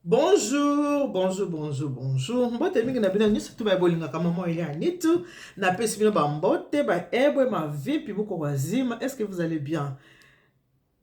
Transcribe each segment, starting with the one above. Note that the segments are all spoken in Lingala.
bonjour bonjour bonjour bonjour mbote mingi na bino nyonso tu baye bolingaka mama elia nitu napesi bino bambote baebwe mavipi boko bazima est ce que vous allez bien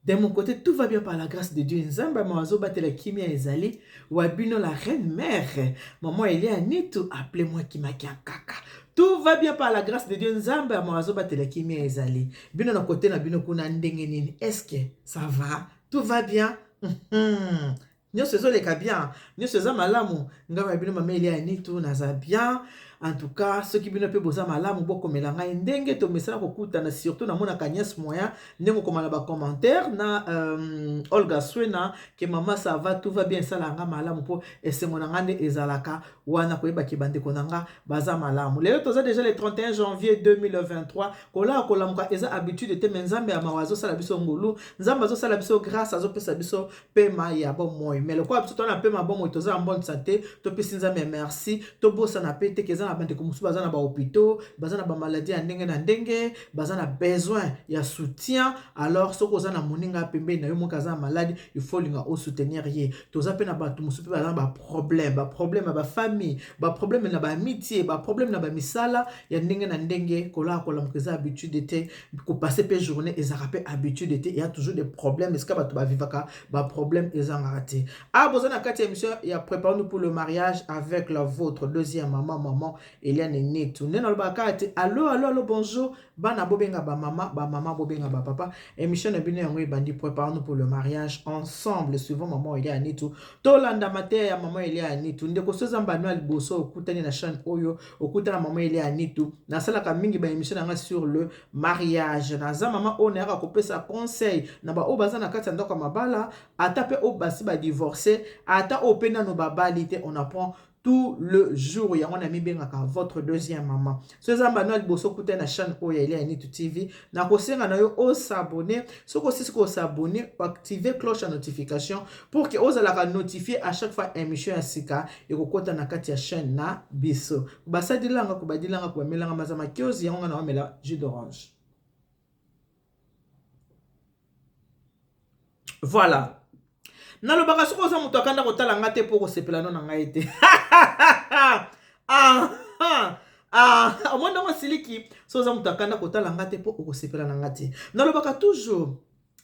de mon côté tout va bien par la grâce de dieu nzambe ama azobatela kimia ezali wa bino la reine mère mama elia nitu appele moi kimakia kaka tout va bien par la grâce de dieu nzambe ama azobatela kimia ezali bino na kote na bino kuna ndenge nini est ce que ça va tout va bien hmm. nyonso ezoleka bien nyonso eza malamu ngai na bino mama elia ya nitu naza bien en tout cas soki bino mpe boza malamu bokomela ngai ndenge tomesana kokutana surtout namonaka nièce moyen ndenge okoma na bacommentaire na euh, olga swena ke mama sava tout va bien esala nga malamu mpo esengo na ngai nde ezalaka wana koyebaki bandeko na nga baza malamu lelo toza deja le 31 janvier 2023 kolala kolamuka eza habitude te me nzambe ya mawa azosala biso ngolu nzambe azosala biso grâce azopesa biso pema ya bomoi me lokola biso tona pema bomoi toza na bonne sante topesi nzambe ya merci tobosana pe teke eza na bandeko mosusu baza na bahopitaux baza na bamaladi ya ndenge na ndenge baza na besoin ya soutien alors soki oza na moninga pembeni na yo moki aza na maladi il faut olinga osoutenir ye toza pe na bato mosusu pe baza na baproblème baproblème ya bafamille baproblème na baamitie baproblème na bamisala ya ndenge na ndenge kolala kolamuka eza habitude te kopase mpe journée ezalaka mpe habitude te ya toujours des problèmes esika bato bavivaka baproblème ezangaka te a ah, boza na kati ya émission ya préparanu pour le mariage avec la vôtre deuxième maman maman eliane netu nde nalobaka kaka te allo allo allo bonjour bana bobenga bamama bamama bobenga bapapa émission na bino yango ebandi préparanu pour le mariage ensemble suivant maman elia ya netu tolanda mateya ya maman elia ya netu ndeko soza mbano ya liboso okutani na chaîne oyo okuta na mama ele ya nitu nasalaka mingi ba émission na nga sur le mariage naza mama oyo nayaka kopesa conseil na baoyo baza na kati ya ndako ya mabala ata mpe oyo basi badivorce ata oyo mpe nano babali te on apprend tout le jour yango na mibengaka votre deuxième maman so eza mbano ya liboso okutai na chaîne oyo ya ele ya nitu tv na kosenga na yo o s'abonner soki osisi ko s'abonner activer cloche ya notification pour que ozalaka notifier à chaque fois émission ya sika ekokota na kati ya chaîne na biso basadilanga kobadilanga kobamelanga maza makiozi yango nga na omela jus d'orange Voilà. Nalobaka soki oza moto akanda kotala ngai te mpo okosepela no na ngai te. ah, ah. Ah, omoni ndenge osiliki so oza moto akanda kotala ngai te mpo okosepela na ngai te nalobaka toujours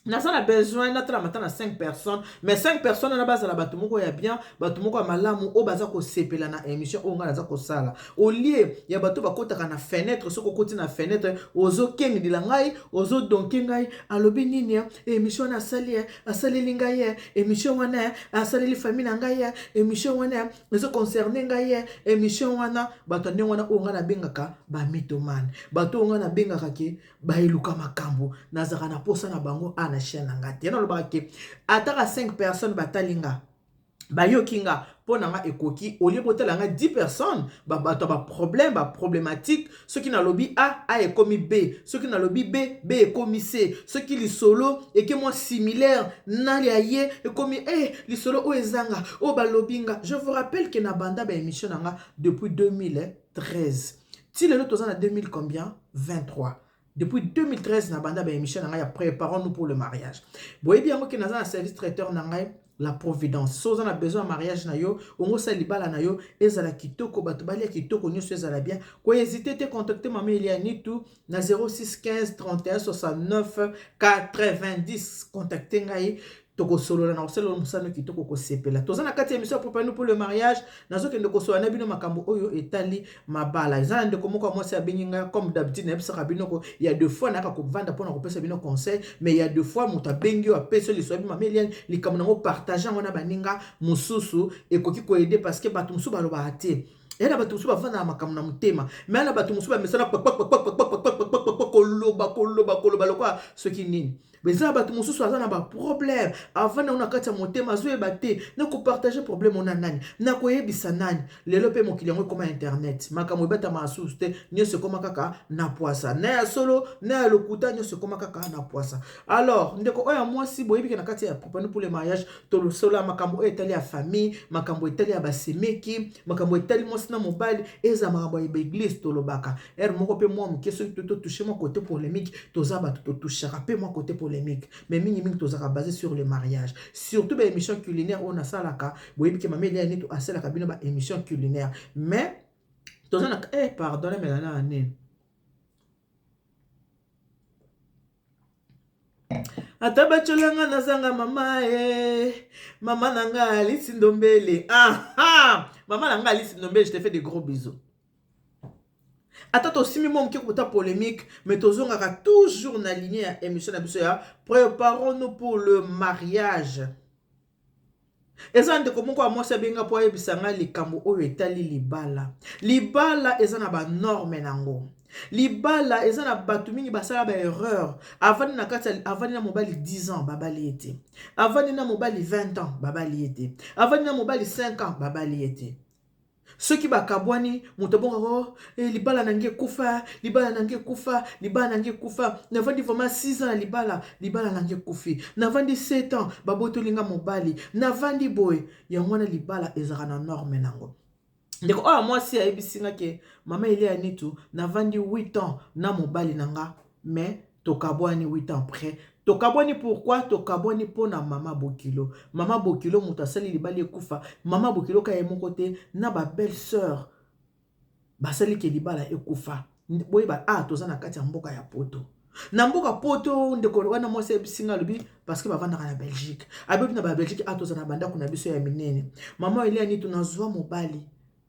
naza na besoin natala mata na 5 personnes mais 5 personnes wana bazala bato moko ya bien bato moko ya malamu oyo baza kosepela na émission oyo ngai naza kosala au lieu ya bato bakotaka na fenetre soki okoti na fenetre ozokengdila ngai ozodonke ngai alobi nini ya eh? emission wana asali ya eh? asaleli ngai ya eh? emission wana ya asaleli famille na ngai ya emission wana ya ezoconcerne ngai ya emission wana bato ya ndenge wana oyo ngai nabengaka bamitomane bato oyo ngai nabengaka ke bayeluka makambo nazalaka na mposa na bango a na chaine na ngai te nalobaka ke ataka 5 personnes batali ngai bayoki nga mpo na nga ekoki olie botala nga 10 personnes bato ya baproblème baproblématique soki nalobi a a ekomi b soki nalobi b b ekomi c soki lisolo eke mwa similaire na lia ye ekomi e eh, lisolo oyo ezanga oyo balobi nga je vous rappelle ke na banda baémission na nga depuis 2013 ti lelo toza na 2000 combien 23 Depuis 2013 na banda ba émission na ngai ya préparons nous pour le mariage. Boyebi yango ke naza na service traiteur na ngai la providence. So oza na besoin ya mariage na yo, ongo sa libala na yo ezala kitoko, bato balia kitoko nyonso ezala bien. Ko hésiter te contacter mama Elia Nitu na 0615 31 69 90. Contacter ngai tokosolola na kosalela mosano kitoko kosepela toza na kati ya emission ya propano pour le mariage nazokende kosolola na bino makambo oyo etali mabala eza na ndeko moko ya mwasi abengi ngai comme d'habitude nayebisaka bino ko ya deux fois nayaka kovanda mpo na kopesa bino conseil mais ya deux fois moto abengi yo apesi yo liso yabi mama eliane likambo nango partage yango na baninga mosusu ekoki koede parce que bato mosusu balobaka te eya na bato mosusu bafanda na makambo na motema me na bato mosusu bamesana koloba koloba koloba lokola soki nini eza bato mosusu aza na baproblème avanda ngo na kati ya motema azoyeba te nakopartage problème ona nani nakoyebisa nani lelo mpe mokili yango ekoma internet makambo ebatama asusu te nyonso ekoma kaka na pwasa na ya solo na ya lokuta nyonso ekoma kaka na pwasa alors ndeko oyo ya mwasi boyebike na kati ya propane pour le mariage tolosola makambo oyo etali ya famille makambo etali ya basemeki makambo etali mwasi na mobali eza makambo ya baeglise tolobaka ere moko mpe mwa moke soki to totouche mwa kote polemique toza bato totouchaka mpe mwa kote polemique mais mingimingi tozalaka base sur le mariage surtout baémission culinaire oyo nasalaka boyebi ke mameli ya nito asalaka bino baémission culinaire mais toza na eh, pardon namelana ya nini Ata batyola nga nazanga mama eh. Mama na nga Alice Ndombele ah ah Mama na nga Alice Ndombele je te fais des gros bisous ata tosimbi mwa moke kota polemique mais tozongaka toujours na ligne ya émission na biso ya préparons nous pour le mariage Eza ndeko moko ya mwasi abengi nga po ayebisa nga likambo oyo etali libala. Libala eza na ba normes nango, libala eza na batu mingi basala ba erreurs, avandi na kati ya avandi na mobali 10 ans babali ye te, avandi na mobali 20 ans babali ye te, avandi na mobali 5 ans babali ye te. Soki bakabwani, moto abongaka oh, eh, libala na ngai ekufa, libala na ngai ekufa, libala na ngai ekufa. Navandi vraiment 6 ans na libala, libala na ngai ekufi. Navandi 7 ans, babotoli nga mobali. Navandi boye, yango wana libala ezalaka na norme nango. ndeko oyo mwasi ayebisi nga ke mama elia nitu navandi 8 ans na mobali na nga mais Tokabwani huit ans après tokabwani pourquoi tokabwani pona maman bokilo maman bokilo mutu asali libala ekufa maman bokilo ka ye moko te na ba belle soeur basali ke libala ekufa boyeba ah toza na kati ya mboka ya poto na mboka poto ndeko wana mwasi ayebisi ngai alobi parceke bavandaka na belgique abebi na ba belgique atoza na bandako na biso ya minene mama eliani tunazwa mobali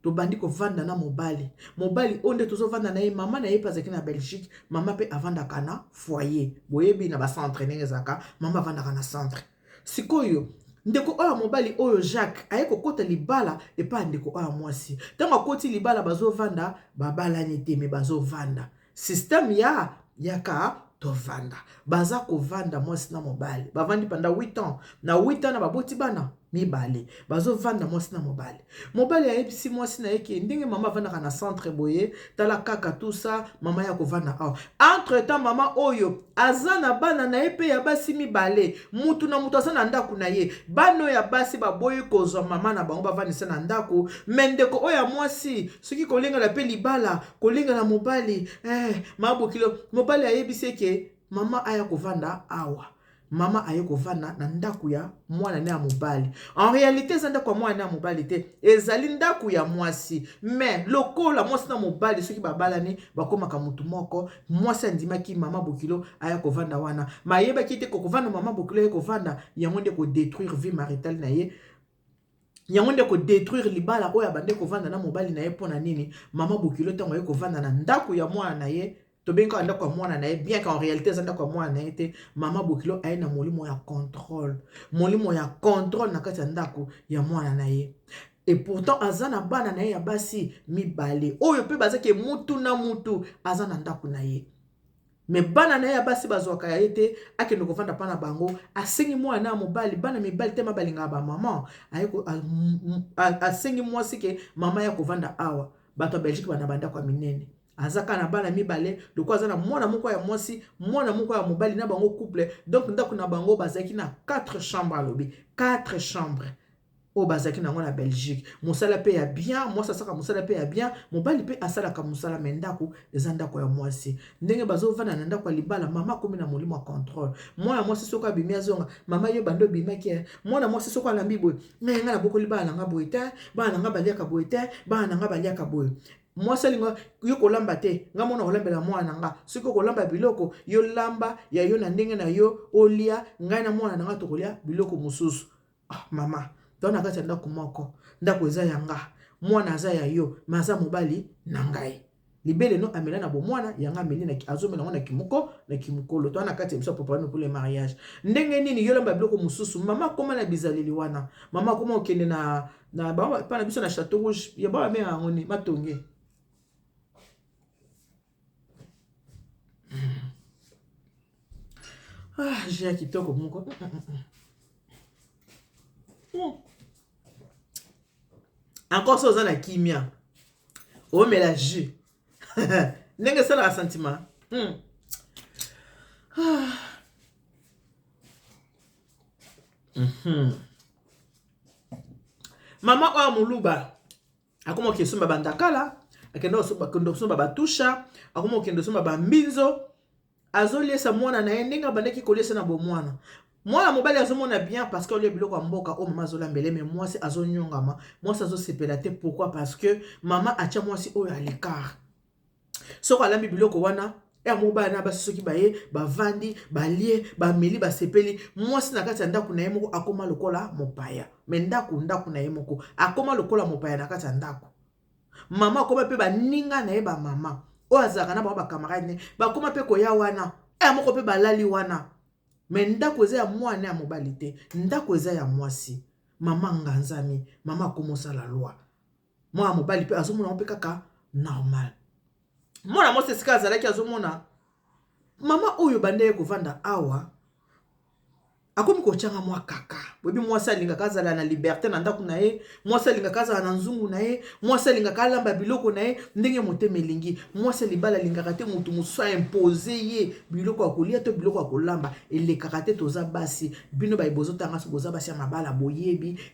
tobandi kovanda na mobali mobali oyo nde tozovanda na ye mama na ye mpe azalaki na belgique mama mpe avandaka na foyer boyebi na bacentre ndenge ezalaka mama avandaka na centre sikoyo ndeko oyo ya mobali oyo jacques aye kokota libala epai ya ndeko oyo ya mwasi ntango akoti libala bazovanda babalani te me bazovanda système ya yaka tovanda baza kovanda mwasi na mobali bavandi panda 8 ans na 8 ans na baboti bana mibale bazovanda mwasi na mobali mobali ayebisi mwasi na ye ke ndenge mama avandaka na centre boye tala kaka tusa mama ya kovanda awa entre temps mama oyo aza na bana na ye mpe ya basi mibale mutu na moto aza na ndako na ye bana oyo ya basi baboyi kozwa mama na bango bavandisa na ndako me ndeko oyo ya mwasi soki kolengela mpe libala kolinga na mobali eh, ma bokilo mobali ayebisi eke mama aya kovanda awa mama aye kovanda na ndako ya mwana ne ya mobali en réalité eza ndako ya mwana ne ya mobali te ezali ndako ya mwasi mais lokola mwasi na mobali soki babalani bakomaka motu moko mwasi andimaki mama bokilo aya kovanda wana mayebaki te kokovanda mama bokilo aye kovanda yango nde kodétruire vie maritale na ye yango nde ko detruire libala oyo abande kovanda na mobali na ye mpo na nini mama bokilo ntango aye kovanda na ndako ya mwana na ye tobengi kaka ndako ya mwana na ye bien qu'en réalité eza ndako ya mwana na ye te mama bokilo aye na molimo ya contrôle molimo ya contrôle na kati ya ndako ya mwana na ye et pourtant aza na bana na ye ya basi mibale oyo mpe bazaki mutu na mutu aza na ndako na ye me bana na ye ya basi bazwaka ya ye te akende kovanda mpa na bango asengi mwana na ya mobali bana mibali tema balingaka bamama asengi mwasi ke mama ya kovanda awa bato ya belgique bana bandako ya minene aza kaka na bana mibale loko aza na mwana moko ya mwasi mwana moko ya mobali na bango couple donc ndako na bango bazalaki na 4 chambre alobi 4 chambre oyo bazalaki na yango na Belgique. Mosala mpe ya bien, mwasi asalaka mosala mpe ya bien, mobali mpe asalaka mosala, me ndako eza ndako ya mwasi. Ndenge bazovanda na ndako ya libala, mama akomi na molimo ya controle. Mwana mwasi soko abimi azonga, mama yo bando obimaki eh. Mwana mwasi soko alambi boye, ngai ngai nabokoli bana na ngai boye te, bana na ngai baliaka boye te, bana na ngai baliaka boye mwasi alinga yo kolamba te nga mona kolambela mwana na nga soki okolamba biloko yo lamba ya yo na ndenge na yo olia ngai na mwana na nga tokolia biloko mosusu Ah, mama toza na kati ya ndako moko ndako eza ya nga mwana aza ya yo me aza mobali na ngai libele no amela na bomwana yango ameli azomela yango na kimoko na kimokolo toza na kati ya biso apropane kule mariage ndenge nini yolamba biloko mosusu mama akoma na bizaleli wana mama akoma okende na na bana biso na chateau rouge ya bana mare yango ni matonge Ah, j'ai ya kitoko moko. Mm, mm, mm, mm. mm. Encore ça oza na kimia. Omela jus. Ndenge esalaka sentiment. Mm. Ah. Mm -hmm. Mama oyo muluba akoma kokende somba bandakala akenda kosomba batusha akoma kokende kosomba bambinzo azoliesa mwana na ye ndenge abandaki koliesa na bomwana mwana mobali azomona bien parce que olie biloko ya mboka oyo mama azolambele me mwasi azonyongama mwasi azosepela te pourquoi parce que mama atya mwasi oyo alecart Soki alambi biloko wana ya mobali na basi soki baye bavandi balie bameli basepeli mwasi na kati ya ndako na ye moko akoma lokola mopaya me ndako ndako na ye moko akoma lokola mopaya na kati ya ndako mama akoma mpe baninga na ye bamama oyo azalaka na bango bakamarade ne bakoma mpe koya wana ya moko mpe balali wana me ndako eza ya mwana ya mobali te ndako eza ya mwasi mama nganzami mama akomosala lwa mwana mobali mpe azomona yango mpe kaka normal mwana mwasi esika azalaki azomona mama oyo banda ye kovanda awa akomi kotyanga mwa kaka boyebi mwasi alingaka azala na liberte na ndako na ye mwasi alingaka azala na nzungu na ye mwasi alingaka alamba biloko na ye ndenge motema elingi mwasi ya libala alingaka te moto mosusu aimpose ye biloko ya kolia to biloko ya kolamba elekaka te toza basi bino baye bozotanga so boza basi ya mabala boyebi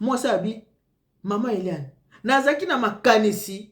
mwasi abi mama eliane nazalaki na makanisi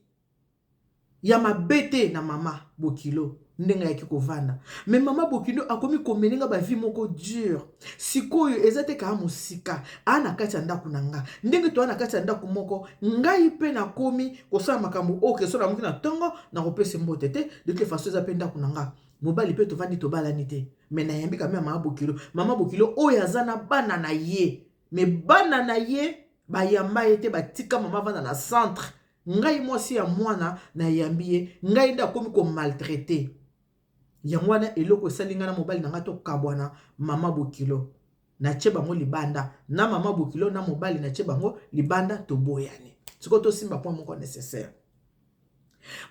ya mabe te na mama bokilo ndenge ayaki kovanda me mama bokilo akomi komene nga bavie moko dure sikoyo eza te kaa mosika aa na kati ya ndako na nga ndenge toa na kati ya ndako moko ngai mpe nakomi kosala makambo oyo keso namoki na ntongo nakopesa mbote te de toute façon eza mpe ndako na nga mobali pe tovandi tobalani te me nayambi kame ya mama bokilo mama bokilo oyo aza na bana na ye me bana na ye bayamba ye te batika mama vanda na centre ngai mwasi ya mwana nayambi ye ngai nde akomi komaltraite yango wana eloko esali ngai na mobali na ngai tokabwana mama bokilo Natie bango libanda na mama bokilo na mobali natie bango libanda toboyani. Sikoyo tosimba point moko necessaire.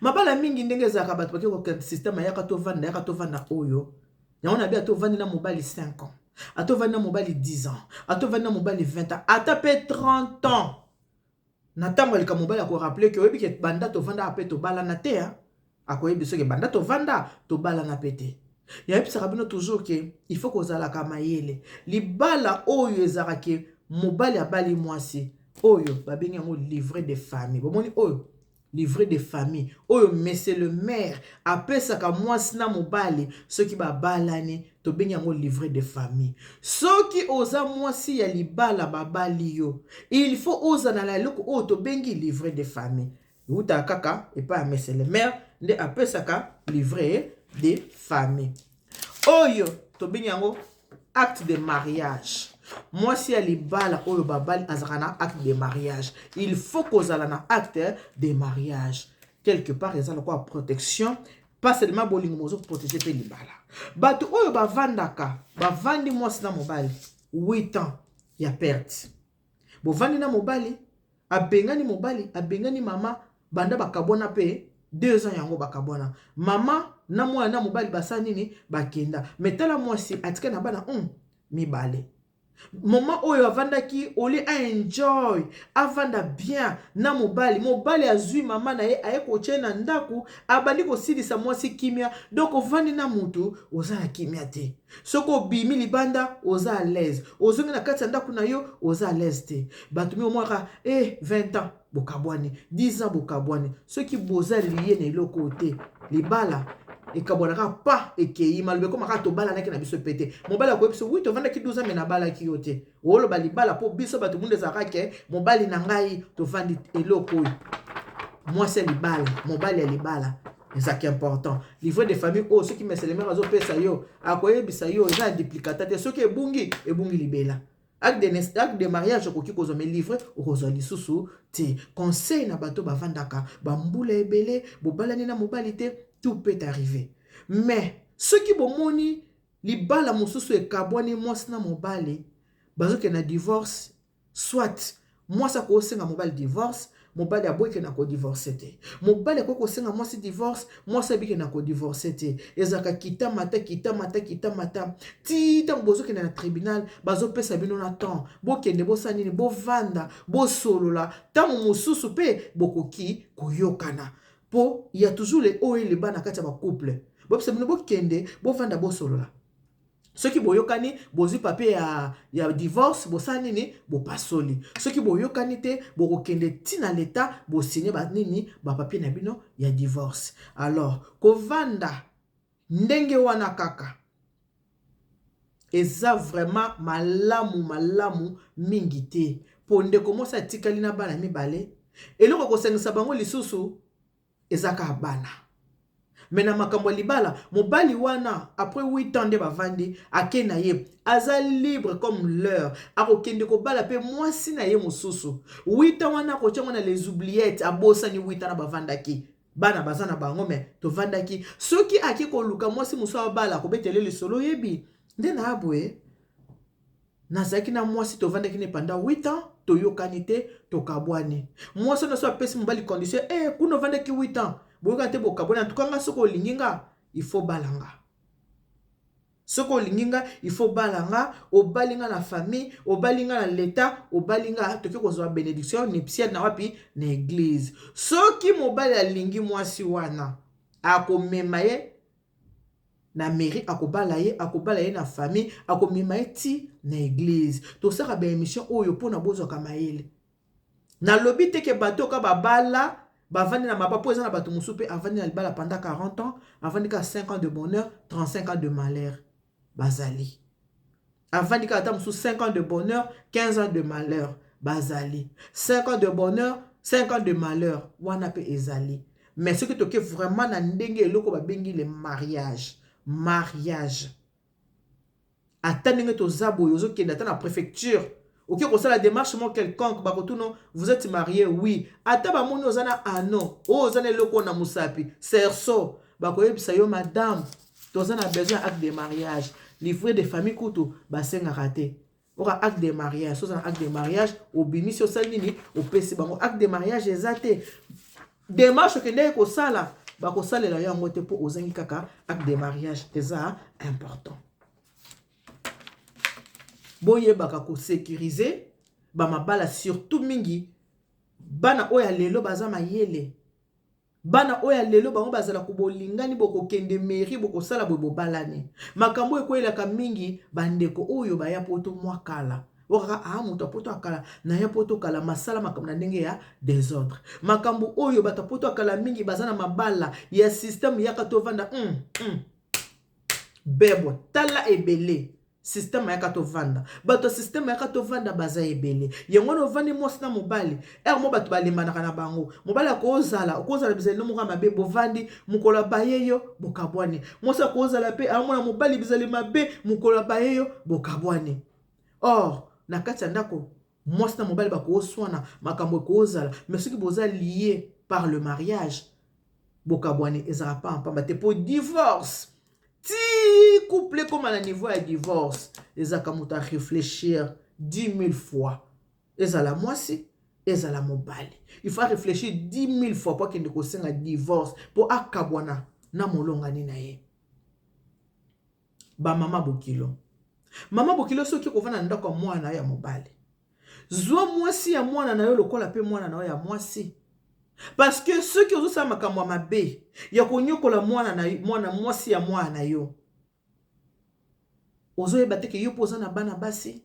Mabala mingi ndenge ezalaka bato bake kokende systeme ayaka tovanda yaka tovanda oyo yango na bi ata ovandi na mobali 5 ans ata ovandi na mobali 10 ans ata ovandi na mobali 20 ans ata mpe 30 ans Na tango ya likambo mobali ako rappeler que oyebi que banda tovandaka pe tobalana te hein. Akoyebi biso que banda tovanda tobalana pe te. Nayebisaka bino toujours que il faut kozalaka mayele. Libala oyo ezalaka que mobali abali mwasi oyo babengi yango livret de famille. Bomoni oyo? Livret de famille oyo monsieur le maire apesaka mwasi na mobali soki babalani tobengi yango livret de famille. Soki oza mwasi ya libala babali yo il faut ozala na eloko oyo tobengi livret de famille ewutaka kaka epai ya monsieur le maire nde apesaka livret de famille. Oyo tobengi yango acte de mariage. Mwasi ya libala oyo babali azalaka na acte de mariage. Il faut kozala na acte de mariage. Quelque part eza lokola protection pas seulement bolingo mais ozo protéger mpe libala. Bato oyo bavandaka bavandi mwasi na mobali 8 ans ya perte. bovandi na mobali abengani mobali abengani mama banda bakabwana mpe deux ans yango bakabwana mama na mwana na mobali basala nini bakenda me tala mwasi atika na bana um, mibale mama oyo avandaki ole aenjoy avanda bien na mobali mobali azwi mama na ye aye kotye na ndako abandi kosilisa mwasi kimia donk ovandi na motu oza na kimia te soki obimi libanda oza à l'aise ozongi na kati ya ndako na yo oza à l'aise te bato mingi omwaka e eh, 20 ans bokabwani 10 ans bokabwani soki boza liye na eloko oyo te libala ekabwanaka pa ekei maloba ekomaka tobalanaki na biso mpe te mobali akoyebi biso wi tovandaki 12 ans me nabalaki yo te oloba libala mpo biso bato mundu ezalaka ke mobali na ngai tovandi eloko oyo mwasi ya libala mobali ya libala ezalaka important livre de famille oyo oh, soki meselemere azopesa yo akoyebisa yo eza ya duplicata te soki ebungi ebungi libela acte de mariage okoki kozwa me livre okozwa lisusu te conseil na bato bavandaka bambula ebele bobalani na mobali te tout peut arriver mais soki bomoni Libala mosusu ekabwani mwasi na mobali bazo kende na divorce soit mwasi akoki senga mobali divorce mobali aboyi kende na kodivorce te mobali akoki kosenga mwasi divorce mwasi abiki na kodivorce te ezalaka kita mata kita mata kita mata ti ntango bozokende na tribunal bazopesa bino na temps bokende bosala nini bovanda bosolola ntango mosusu mpe bokoki koyokana Po ya toujours le haut et le bas na kati ya ba couple. Bopsa bino bokende bovanda bosolola. Soki boyokani bozwi papier ya, ya divorce bosala nini? Bopasoli. Soki boyokani te bokokende ti na leta bosigne ba nini? Ba papier na bino ya divorce. Alors kovanda Ndenge wana kaka. Eza vraiment malamu malamu mingi te po ndeko mwasi atikali na bana mibale eloko ekosangisa bango lisusu eza kaka bana me na makambo ya libala mobali wana après 8 ans nde bavandi ake na ye aza libre comme l'heure akokende kobala mpe mwasi na ye mosusu 8 ans wana akotya ngo na les oubliettes abosani 8 ans na bavandaki bana baza na bango me tovandaki soki ake koluka mwasi mosusu abala kobetele lisolo oyebi nde na aboye nazalaki na mwasi tovandaki ne panda 8 ans toyokani te tokabwani mwasi wana so apesi mobali condition e eh, kuna ovandaki 8 ans boyokani te bokabwani antukanga soki olingi nga ifo balanga Soki olingi nga il faut obala nga, obali nga na famille, obali nga na l'etat, obali nga toke kozwa benediction ya nuptiale na wapi? Na eglise. Soki mobali alingi mwasi wana, akomema ye na mairie, akobala ye, akobala ye na famille, akomema ye ti na eglise. Tosaka ba emission oyo pona bozwaka mayele. Nalobi te ke bato oyo kaka babala bavandi na maba po eza na bato mosusu pe avandi na libala pendant 40 ans avandi kaka 5 ans de bonheur 35 ans de malheur bazali avandi kaka ata mosusu 5 ans de bonheur 15 ans de malheur bazali 5 ans de bonheur 5 ans de malheur wana pe ezali mais soki toke vraiment na ndenge eloko babengi le mariage mariage ata ndenge toza boye ozokende ata na prefecture oke kosala demarche mo quelconque bakotuno vous êtes marie oui ata bamoni oza na ano oyo oza na eloko na mosapi cerceau bakoyebisa yo madame toza na besoin ya acte de mariage livre de famille kutu basengaka te oka acte de mariage soza na acte de mariage obimisi osali nini opesi bango acte de mariage eza te demarche okendeki kosala bakosalela yo yango te mpo ozangi kaka acte de mariage eza important boyebaka kosekirize bamabala surtout mingi bana oyo ya lelo baza mayele Bana oyo ya lelo bango bazala ku bolingani bokokende mairie bokosala boye bobalani makambo oyo ekweyelaka mingi bandeko oyo baya poto mwa kala okaka aa ah, moto ya poto akala naya poto kala masala makambo na ndenge ya desordre makambo oyo bato ya poto akala mingi baza na mabala ya systeme yaka tovanda mm, mm. bebwa tala ebele Système ayaka tovanda. Bato ya système ayaka tovanda baza ebele. Yango wana ovandi mwasi na mobali. Ere mo bato balembanaka na bango. Mobali akozala, okozala bizali no moko ya mabe, bovandi, mokolo abaye yo, bokabwani. Mwasi akozala pe, amona mobali bizali mabe, mokolo abaye yo, bokabwani. Or, na kati ya ndako, mwasi na mobali bakooswana makambo ekoozala mais soki boza lie par le mariage bokabwani ezalaka mpamba mpamba te mpo divorce ti couple ekoma na niveau ya divorce ezalaka moto areflechir 10 000 fois ezala mwasi ezala mobali il faut réfléchir 10 000 fois mpo akende kosenga divorce mpo akabwana na molongani na ye Ba mama bokilo. Mama bokilo soki okovanda na ndako ya mwana na yo ya mobali. Zwa mwasi ya mwana na yo lokola pe mwana na yo ya mwasi. Parce que soki ozosala makambo ya mabe ya konyokola mwana na mwana mwasi ya mwana na yo. Ozoyeba te ke yo pe oza na bana basi.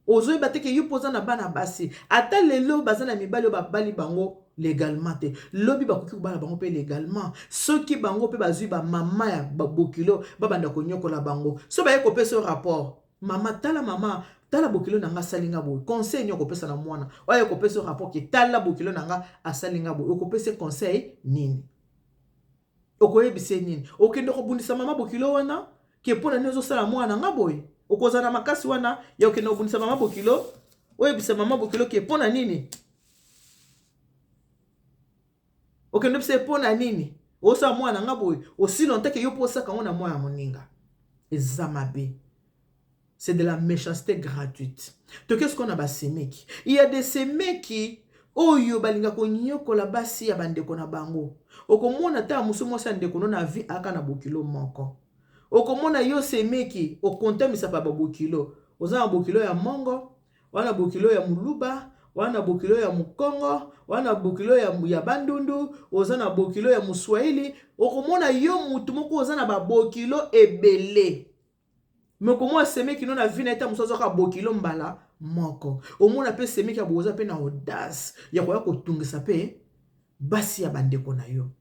ozo yeba te ke yo pe oza na bana basi ata lelo baza na mibali oyo ba bali bango legalement te lobi bakoki kobala bango pe legalement soki bango pe bazui ba mama ya ba bokilo ba banda koniokola bango so baye kopesa yo rapport mama tala mama tala bokilo na nga asali nga boye conseil nini okopesa na mwana oyo aye kopesa yo rapport ke tala bokilo na nga asali nga boye okopesa conseil nini Okoyebisa ye nini? Okende kobundisa mama bokilo wana ke mpo na nini ozosala mwana na nga boye? Okozala na makasi wana ya okende kobundisa mama bokilo? Oyebisa mama bokilo ke mpo na nini? Okende oyebisa ye mpo na nini osala mwana na nga boye? Osi longtemps ke yo mpo osaka yango na mwana moninga. Eza mabe. c'est de la méchanceté gratuite toke sikoyo na basemeki il y a des semeki oyo balinga konyokola basi ya bandeko na bango okomona ta mosu mwasi ya ndeko no na vi aka na bokilo moko okomona yo semeki okontamisa pa babokilo oza na bokilo ya mongo wana bokilo ya muluba wana bokilo ya mukongo wana bokilo ya, ya bandundu oza na bokilo ya muswahili okomona yo mutu moko oza na babokilo ebele Mokomoko ya semeki no na vie na ye ntango mosusu azwaka bokilo mbala moko. Omona mpe semeki ya boza mpe na audace ya koya kotungisa mpe basi ya bandeko na yo.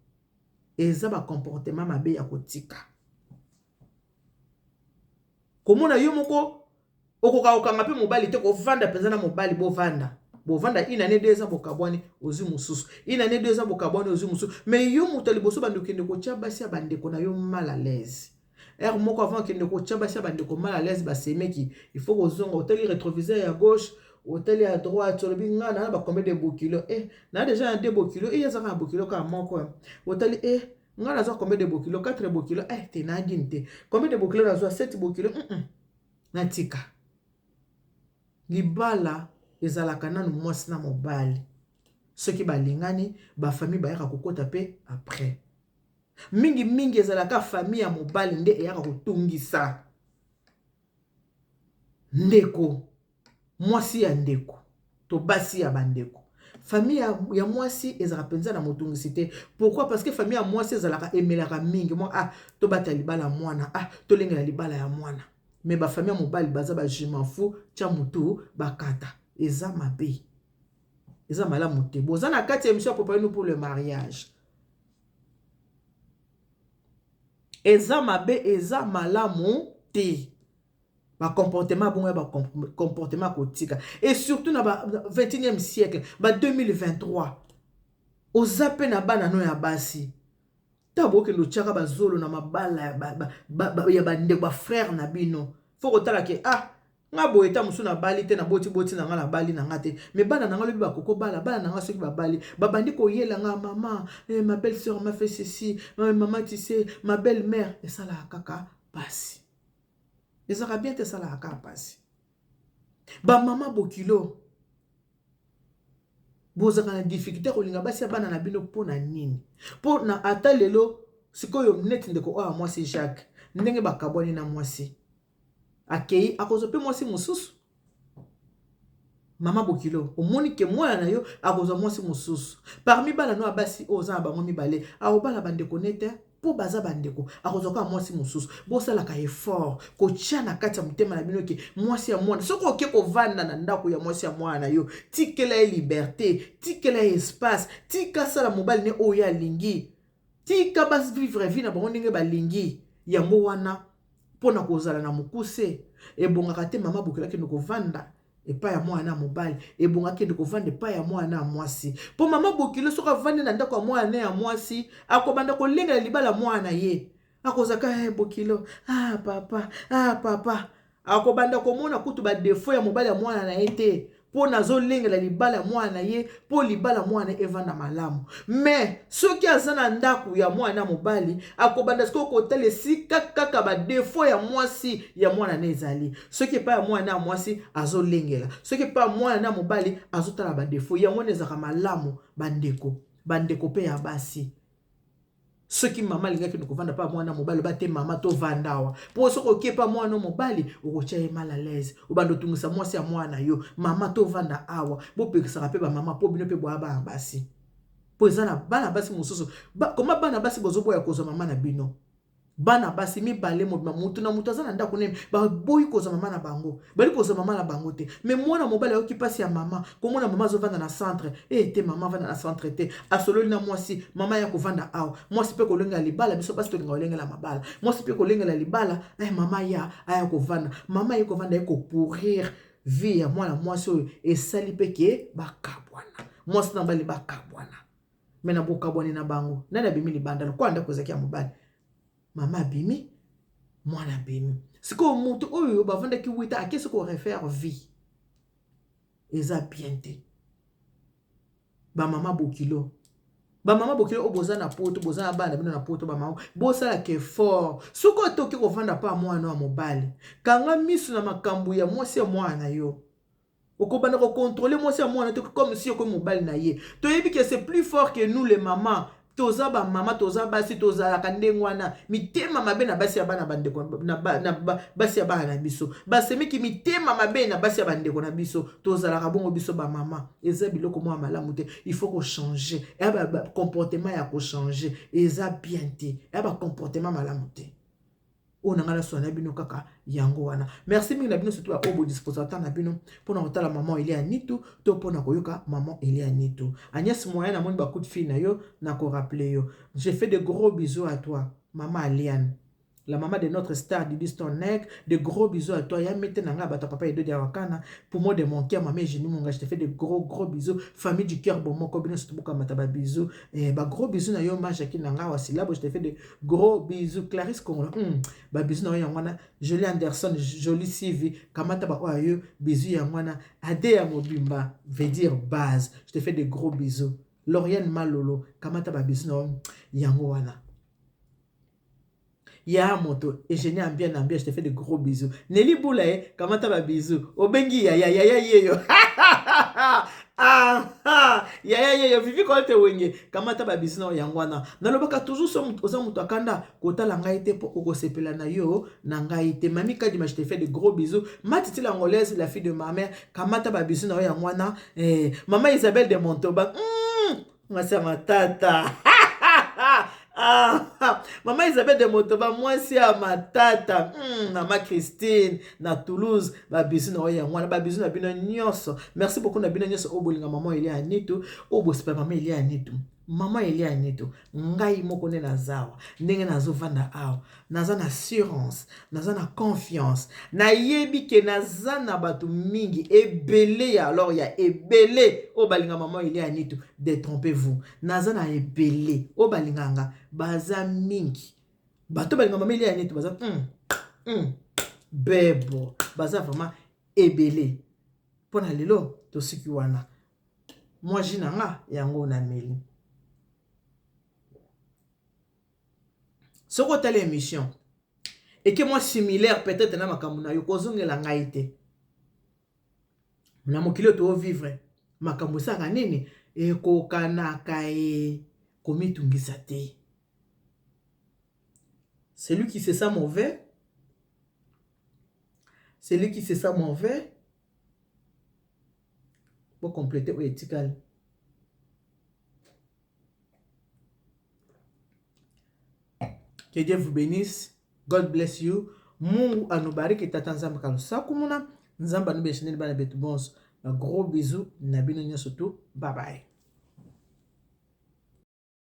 Eza ba comportement mabe ya kotika. Komona yo moko okoka kokanga mpe mobali te kovanda mpenza na mobali bovanda bovanda une année deux ans bokabwani ozwi mosusu une année deux ans bokabwani ozwi mosusu mais yo moto ya liboso bandi okende kotya basi ya bandeko na yo mal à l'aise heure moko avant okende kotya basi ya bandeko mal à l'aise basemeki il faut kozonga otali retroviseur ya gauche otali ya droite olobi ngai na bakombe de bokilo e eh, na deja na de bokilo e eh, ezaka na bokilo kaka moko eh. otali e ngai nazwa kombe de bokilo 4 bokilo e te nagini te kombe de bokilo nazwa 7 bokilo mm -mm. Na tika. Libala ezalaka nanu mwasi na mobali. Soki ba lingani ba famille bayaka ko kota pe après. Mingi mingi ezalaka famille ya mobali nde eyaka ko tungisa ndeko mwasi ya ndeko. To basi ya ba ndeko. Famille ya mwasi ezalaka penza na motungisi te pourquoi parce que famille ya mwasi ezalaka emelaka mingi mwa ah tobata libala mwana ah tolengela libala ya mwana mais ba famille ya mobali baza ba je m'en fous tya mutu bakata eza mabe eza malamu te boza na kati ya émission ya papa nous pour le mariage eza mabe eza malamu te ba comportement ya bongo ya ba comportement ya kotika et surtout na ba 21e siècle ba 2023 oza mpe na bana no ya basi ntango bokende otyaka bazolo na mabala ya bandeko ba, ba, ba, bafrère na bino fo kotala ke ah nga boye ta mosusu nabali te naboti boti na nga nabali na nga te me bana na nga lobi bakoko bala bana na nga soki babali babandi koyela nga mama eh, ma belle sœur ma fait ceci eh, mama tise ma belle mère esalaka kaka pasi ezalaka bien te esalaka kaka mpasi bamama bokilo bozalaka na difficulté kolinga basi ya bana na bino mpo na nini mpo na ata lelo sikoyo neti ndeko oyo mwasi jacques ndenge bakabwani na mwasi akei akozwa mpe mwasi mosusu Mama bokilo omoni ke mwana na yo akozwa mwasi mosusu parmi bana no ya basi oyo oza na bango mibale akobala bandeko ne te mpo baza bandeko akozwa kaka mwasi mosusu bosalaka effort kotya na kati ya motema na bino ke mwasi ya mwana soki oke kovanda na ndako ya mwasi ya mwana na yo tikela ye liberte tikela ye espace tika asala mobali ne oyo ye alingi Tika ba vivre vie na bango ndenge balingi yango wana mpo na kozala na mokuse ebongaka te mama bokela kende kovanda epai ya mwana ya mobali ebonga kende kovanda epai ya mwana ya mwasi mpo mama bokilo soki avandi na ndako ya mwana ya mwasi akobanda kolengela libala mwana ye akozaka hey, eh, bokilo ah papa ah papa akobanda komona kutu badefo ya mobali ya mwana na ye te mpo nazolengela libala ya mwana na ye mpo libala mwana evanda malamu me soki aza na ndako ya mwana na mobali akobanda sikoyo kotala esika kaka badefo ya mwasi ya mwana na ezali soki epai ya mwana ya mwasi azolengela soki epai ya mwana na mobali azotala badefo yango wana ezalaka malamu bandeko bandeko mpe ya basi soki mama alingaki na kovanda mpa mwana mobali oba te mama tovanda awa mpo soki oke mpa mwana mobali okotya ye mal à l'aise obanda otungisa mwasi ya mwana yo mama tovanda awa bopekisaka mpe bamama mpo bino mpe boya bana basi mpo eza na bana basi mosusu koma bana basi bozoboya kozwa mama na bino Bana basi mibale mobima mutu na mutu aza na ndako nene baboyi kozwa mama na bango bali kozwa mama na bango te me mwana mobali ayoki mpasi ya mama komona mama azovanda na centre e te mama avanda na centre te asololi na mwasi mama ya kovanda awa mwasi mpe kolengela libala biso basi tolinga kolengela mabala mwasi mpe kolengela libala e mama ya aya kovanda mama ye kovanda ye kopourir vie ya mwana mwasi oyo esali mpe ke bakabwana mwasi na mobali bakabwana me na bokabwani na bango nani abimi libanda lokola ndako ezalaki ya mobali mama abimi mwana abimi sikoyo moto oyo bavandaki wita akesi korefaire vie eza bien te bamama bokilo bamama bokilo oyo boza na poto boza na bana bino na poto bamama bosalaka effort soki otoki kovanda mpa mwana ya mobali kanga miso na makambo ya mwasi ya mwana na yo okobanda ko contrôler mwasi ya mwana te comme si okomi mobali na ye toyebi ke c'est plus fort que nous les mamans toza bamama toza basi tozalaka ndenge wana mitema mabe na basi ya bana bandeko na basi ya bana na biso basemeki mitema mabe na basi ya bandeko na biso tozalaka bongo biso bamama eza biloko mwa malamu te il faut kochange ya bacomportement ya kochange eza bien te ya bacomportement malamu te oyo na ngai naswana na bino kaka yango wana merci mingi na bino surtout baoyo bodisposa ntango na bino mpo na kotala mama elia nitu to mpo na koyoka mama elia nitu agnes moyen namoni bakuti fille na yo na koraple yo je fais de gros bisous à toi mama aliane la maman de notre star Didi Stonek, de gros bisous à toi, Yamete Nanga, Bata Papa Edo Diawakana, poumon de mon cœur, maman Eugénie Munga, je te fais de gros gros bisous, famille du cœur, bon mon cobino, surtout Bokamata, ba bisous, eh, ba gros bisous na yo, ma Jacqueline Nanga, Wasilabo, je te fais de Gros bisous Clarisse Kongola. Mm, ba bisous na yango wana Jolie Anderson, Jolie Sivi, kamata ba oyo yo bisous yango wana ade ya mobimba veut dire base. Je te fais des gros bisous. Lauriane Malolo, kamata ba bisous na yango wana. Ya moto, Eugénie Ambia Nambia, je te fais des gros bisous. Nelly Boulaye, kamata ba bisous. Obengi yaya, yaya yeyo. aha yaya yeyo vivi kolte wenge kamata babisi nao yango wana nalobaka toujours so oza moto akanda kotala ngai te mpo okosepela na yo na ngai te mami kadima je te fait de gros bisous matiti l'angolaise la fille de ma mère kamata babisi nao yango wana eh, mama isabelle de montoba mm. mwasi ya matata Ah, ah, mama Isabelle de Motoba mwasi ya matata mm, mama Christine na Toulouse babizu na oyo yango wana babizu na bino nyonso merci beaucoup na bino nyonso oyo bolinga mama Elia Anitu oyo bosepela mama Elia Anitu mama Elia Anitu ngai moko nde nazawa ndenge nazovanda awa naza na assurance naza na confiance nayebi ke naza na bato mingi ebele ya alors ya ebele oyo balinga mama ile ya nitu detrompe vous naza na ebele oyo balinga nga baza mingi bato balinga mama ile ya nitu baza mm, mm, bebo baza vraiment ebele mpo na lelo tosuki wana mwaji na nga yango nameli soki otali emission eke mwa similaire peut-être na makambo na yo kozongela ngai te na mokili oyo toovivre makambo esaka nini ekokanaka ye komitungisa te celui qui se sent mauvais celui qui se sent mauvais bokomplete oyo etikali Que Dieu vous benisse. God bless you. Mungu anubariki tata nzambe kalusaku muna. Nzambe anubeshineli bana betu bonso. Ba gros bisous na bino nyoso tu. Bye bye.